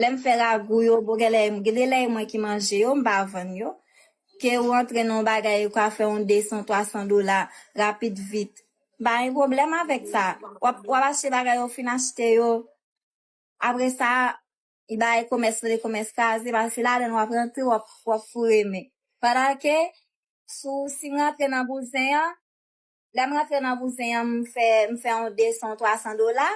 Lè m fè ragou yo, bon gen lè, gen de lè e mwen ki manje yo, m pa vann yo. Ke ou antre nan yon bagay ou ka fè yon 200, 300 dola rapid vit. M pa gen pwoblèm avèk sa. W ap, w ap achte bagay yo, ou fin achte yo, apre sa, li bay komès rele komès kraze paske se ladan l w ap rantre w ap, w ap foure men. Pandan ke, sou, si m rantre nan bouzen an, lèm rantre nan bouzen an m fè m fè yon 200 ou 300 dola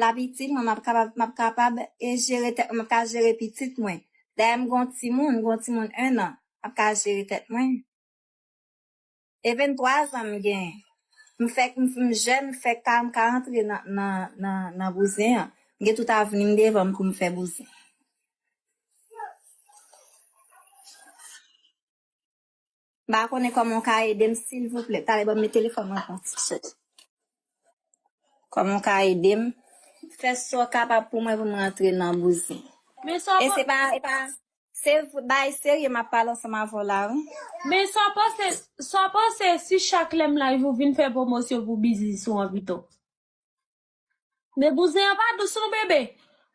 lap itil mwen map kapab map kapab e jere tèt mwen map ka jere pitit mwen dayè m gen yon timoun gen yon timoun 1 an map ka jere tèt mwen e 23 zan m gen m fèk m m jèn m fèk ka m ka rantre nan nan nan nan bouzen an m gen tout avni m devan m pou m fè bouzen. M pa konnen kòman w ka ede m silvouplè. Tale banm men telefòn mwen pran ti sèl. Kòman w ka ede m? Fè sa w kapab pou mwen pou m rantre nan bouzin. Men sa w panse. E se pa, e pa, se bagay serye m ap pale ansanm avè w la wi. Men sa w panse, sa w panse si chak lè m live ou vin fè pwomosyon pou biznis ou an pito? Men bouzen an pa dous non bebe.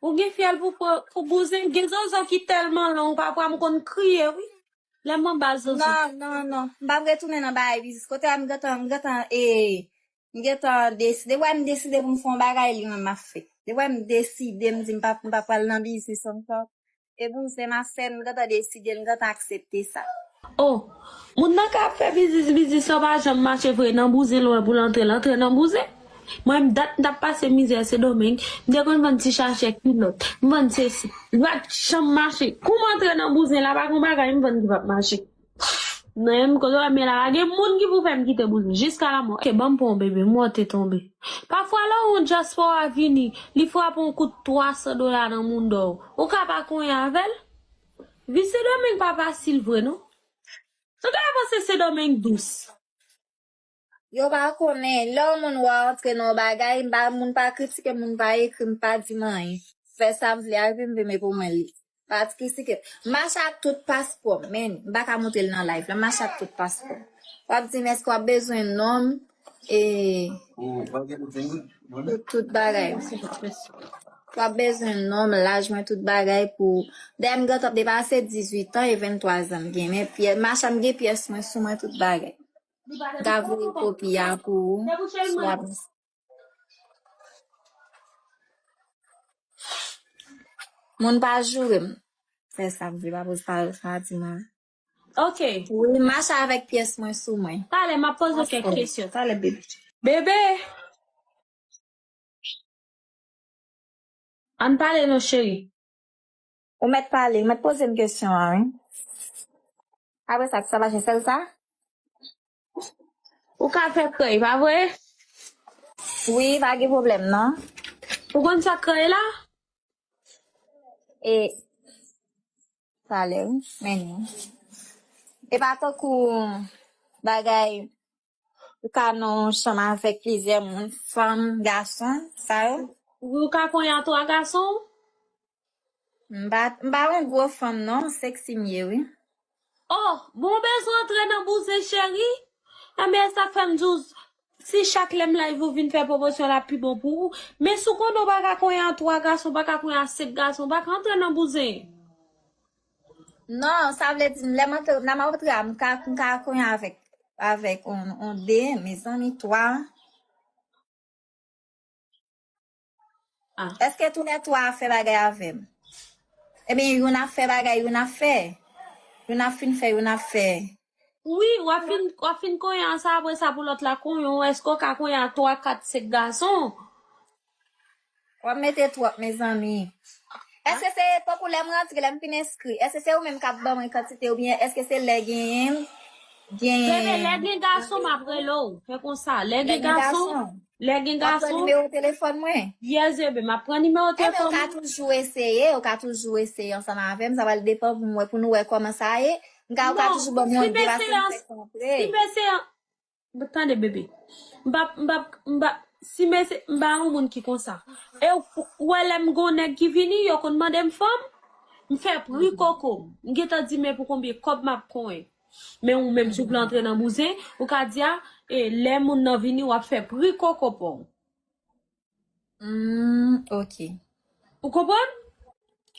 Ou gen fyèl pou pou bouzen gen zozo ki tèlman long pafwa m konn kriye wi lèm anba zozo. Non non non m pap retounen nan bagay biznis kote a m gentan m gentan e m gentan desi depi wè m deside pou m fè yon bagay li menm map fè depi wè m deside m di m pap m pa pral nan biznis ankò E pou m se ma sè, m gentan deside, m gentan aksepte sa. Oh! Moun nan ka ap fè biznis biznis sa pa janm mache vre nan bouzen lwen pou l antre l antre nan bouzen. Mwen m dat m tap pase mizè sendomeng m te konn vann ti chachè kilòt m vann sesi li pat janm mache kou m antre nan bouzen la pa gon bagay m vann ki pap mache. Nèm kote wèm ye la la gen moun ki pou fèm kite bouzen jiska lamò ke banm pran yon bebe mò te tonbe pafwa lè yon dyaspora vini li frape yon kout 300 dola nan moundò w ou ka pa konyen avèl vi sendomeng pa fasil vre non nou ta panse sendomeng dous. Yo pa konnen lè yon moun wè antre nan yon bagay m pa moun pa kritike m moun pa ekri m pa di m anyen m fè sa m vle avè m vle men pou mwen li pa kritike m mache ak tout paspò m men m pa ka montre l nan live la m mache ak tout paspò m w ap di m èske w ap bezwen non m e tout bagay w ap bezwen non m laj mwen tout bagay pou dèyè m gentan depase 18 an e 23 zan m gen men pyè mache m gen pyès mwen sou mwen tout bagay. ga voye kopi a pou ou sou ap moun pa jourem fè sa pou pa poz pa sa di mwen ok oui mache avèk pyès mwen sou mwen talè m'a poze kèk kesyon talè bebe bebe an pale non cheri. Ou mèt pale, ou mèt poze m kesyon an wi. Apre sa ti sa mache sèl sa. Ou ka fè krèy pa vre? Wi pa gen pwoblèm non. Ou konn sa krèy la? E pale wi, men ni. E pa tankou bagay Ou ka nan yon chanm avèk plizyè moun, fanm, gason, sa yo? Wi, ou ka konyen a twa gason ou? M pa, m pa yon gwo fanm non, seksi m ye wi. O! Bon, ou bezwen antre nan bouzen cheri? Enben, e sa k fè m di w, si chak lè m live ou vin fè pwomosyon l ap pi bon pou ou. Men si w konnen w pa ka konyen a twa gason, ou pa ka konyen a senk gason, ou pa ka antre nan bouzen. Non, sa vle di lè m antre, nan m antre a, m ka, m ka konyen avèk, avèk on, on de, mezanmi, twa. Ah, Eske tou lè twa a fè bagay avèm? Ebyen, youn ap fè bagay, youn ap fè. Youn ap fin fè, youn ap fè. Wi wap fin wap fin konyen an sa apre sa pou lòt la konyen w èske w ka konyen a 3 4 5 gason Wap mete twòp mezanmi. Èske se tankou lèm rantre lèm fin enskri èske se ou menm kap ban mwen kantite oubyen èske se lè genyenm gen Bebe lè gen gason map rele w fè konsa lè gen gason Lè gen Wap pran gason, nimewo telefòn mwen? yè zebe, map pran nimewo Eh men ou telefòn ka ou. toujou eseye, ou ka toujou eseye ansanm avèm, sa pral depan pou m wè, pou nou wè kòman sa ye. M ka ou ka Non, toujou banm yon sim de eseye paske m ans, fèk antre. sim eseye an, m tande bebe. M pap, m pap, m pa, sim ese, m pa yon moun ki konsa. E ou, ou wè lè m gon nèg ki vini, yo konn mande m fanm, m fè pri koko m. M gentan di men pou konbyen kòb map konyen. Men ou menm si w vle antre nan bouzen, ou ka di a e lè moun nan vini wap fè pri koko pa w. Humm ok. Ou konprann?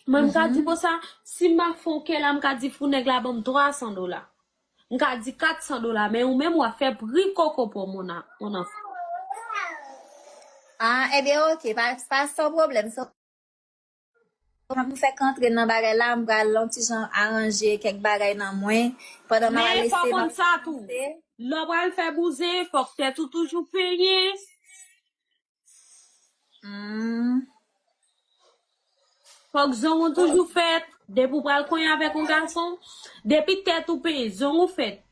Mwen m ka di konsa, si m ap fè yon kè la, m ka di fou nèg la ban m 300 dola. M ka di 400 dola men ou menm wap fè pri koko pa w mon a, mon anfan. Ah ebyen ok, pa san pwoblèm. Sa m fèk antre nan bagay la, m pral yon ti jan aranje kèk bagay nan mwen, pandan m ap lese, m ap avanse. Lè w pral fè bouzen, fòk tèt ou toujou penyen. Fòk zong ou toujou fèt. Depi w pral konyen avèk yon gason, depi tèt ou penyen, zong ou fèt,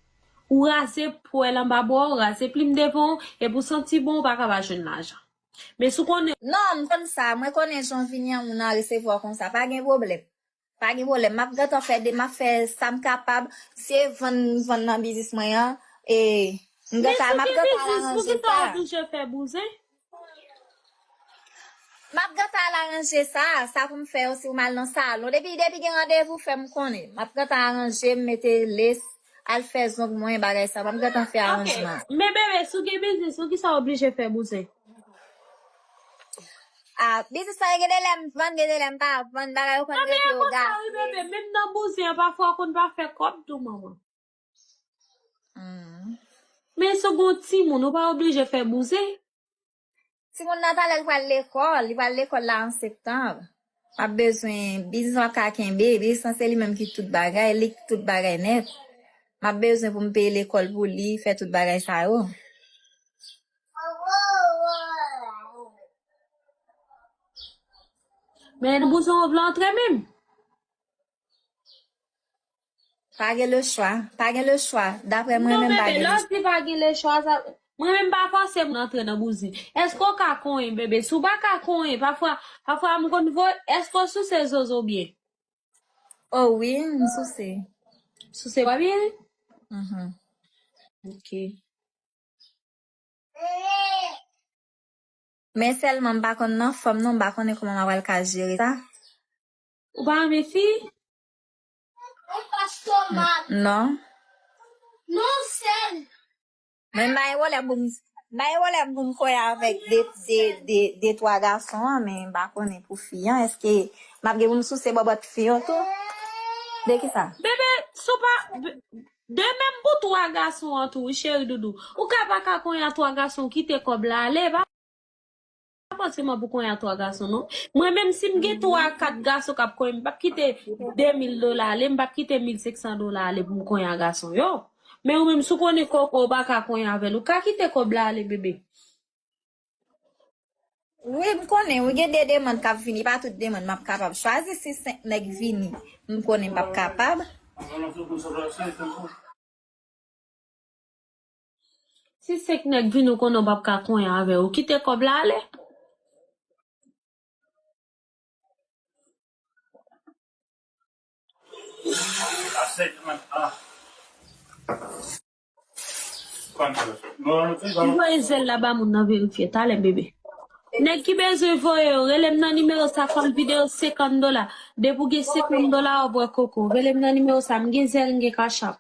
ou raze pwèl anba bra w, raze plim devan w, epi w santi bon, ou pa ka pa jwenn lajan. Men si w konnen. Non, m konn sa. Mwen konnen jan vini an moun an resevwa w konsa. Pa gen pwoblèm. Pa gen pwoblèm. M ap gentan fè de. M ap fè sa m kapab. Si e vann m vann nan biznis mwen an, e m gentan. M ap gentan al aranje sa. Men si se biznis, poukisa w oblije fè bouzen? M ap gentan al aranje sa. Sa pou m fè yo si w mal nan salon. Depi gen randevou fè m konnen. M ap gentan aranje m mete lace. Al fè zong mwen bagay sa map gentan fè aranjman. Ok men bebe si w gen biznis pou kisa w oblije fè bouzen. Ah biznis mwen gen de lè m vann gen de lè m pa vann bagay yo konn rete yo gaye. Nan men an konsa wi bebe menm nan bouzen an pafwa w konn pa fè kòb tou manman. Hum. Men si w gen yon timoun ou pa oblije fè bouzen. Ti moun nan talè l pral lekòl, li pral lekòl la an septanb. Map bezwen biznis map ka kenbe, biznis lan se li menm ki tout bagay, li ki tout bagay nèt. Map bezwen pou m peye lekòl pou li, fè tout bagay sa yo. Men bouzen ov la antre menm. Pa gen le chwa, pa gen le chwa, daprè mwen menm pa gen le chwa. Non bebe, lè w di pa gen le chwa, sa vle, mwen menm m pa fòse moun antre nan bouzin. Èske w ka konyen bebe? Si w pa ka konyen, pafwa, pafwa m konn voye, èske w souse zozo byen? O wi, m souse. Souse wa byen? Ok. Men sèlman m pa konn nan fòm non, m pa konnen kòman m apral ka jere sa. Ou pa renmen fi? Non. Non sèl. Men bay wòlè pou m bay wòlè pou m kwe avèk de de de de twa gason an men m pa konnen pou fi an èske m ap gen pou m souse bòbòt fi an tou de ki sa? Bebe si w pa de menm pou twa gason an tou wi cheridoudou ou ka pa ka konya twa gason kite kòb la ale e pa. pa paske mwen pou konyen ak 3 gason non. Mwen menm si m gen 3 a 4 gason k ap konyen m p ap kite 2000 dola ale, m p ap kite 1500 dola ale pou m konyen a gason yo. Men ou menm si w konnen kò w kò w pa ka konyen avè l ou ka kite kòb la ale bebe. Wi m konnen wi gen de demann k ap vini e pa tout demann m ap kapab chwazi si 5 nèg vini m konnen m p ap kapab. Si 5 nèg vini ou konnen ou pap ka konyen avè yo, ou kite kòb la ale. Ou voye zèl la ba moun nan verifye talè bebe. Nèg ki bezwen voye yo, rele m nan nimewo sa fò l vide yo 50 dola. Depi ou gen 50 dola wap wè koko. Rele m nan nimewo sa, m gen zèl m gen cash app.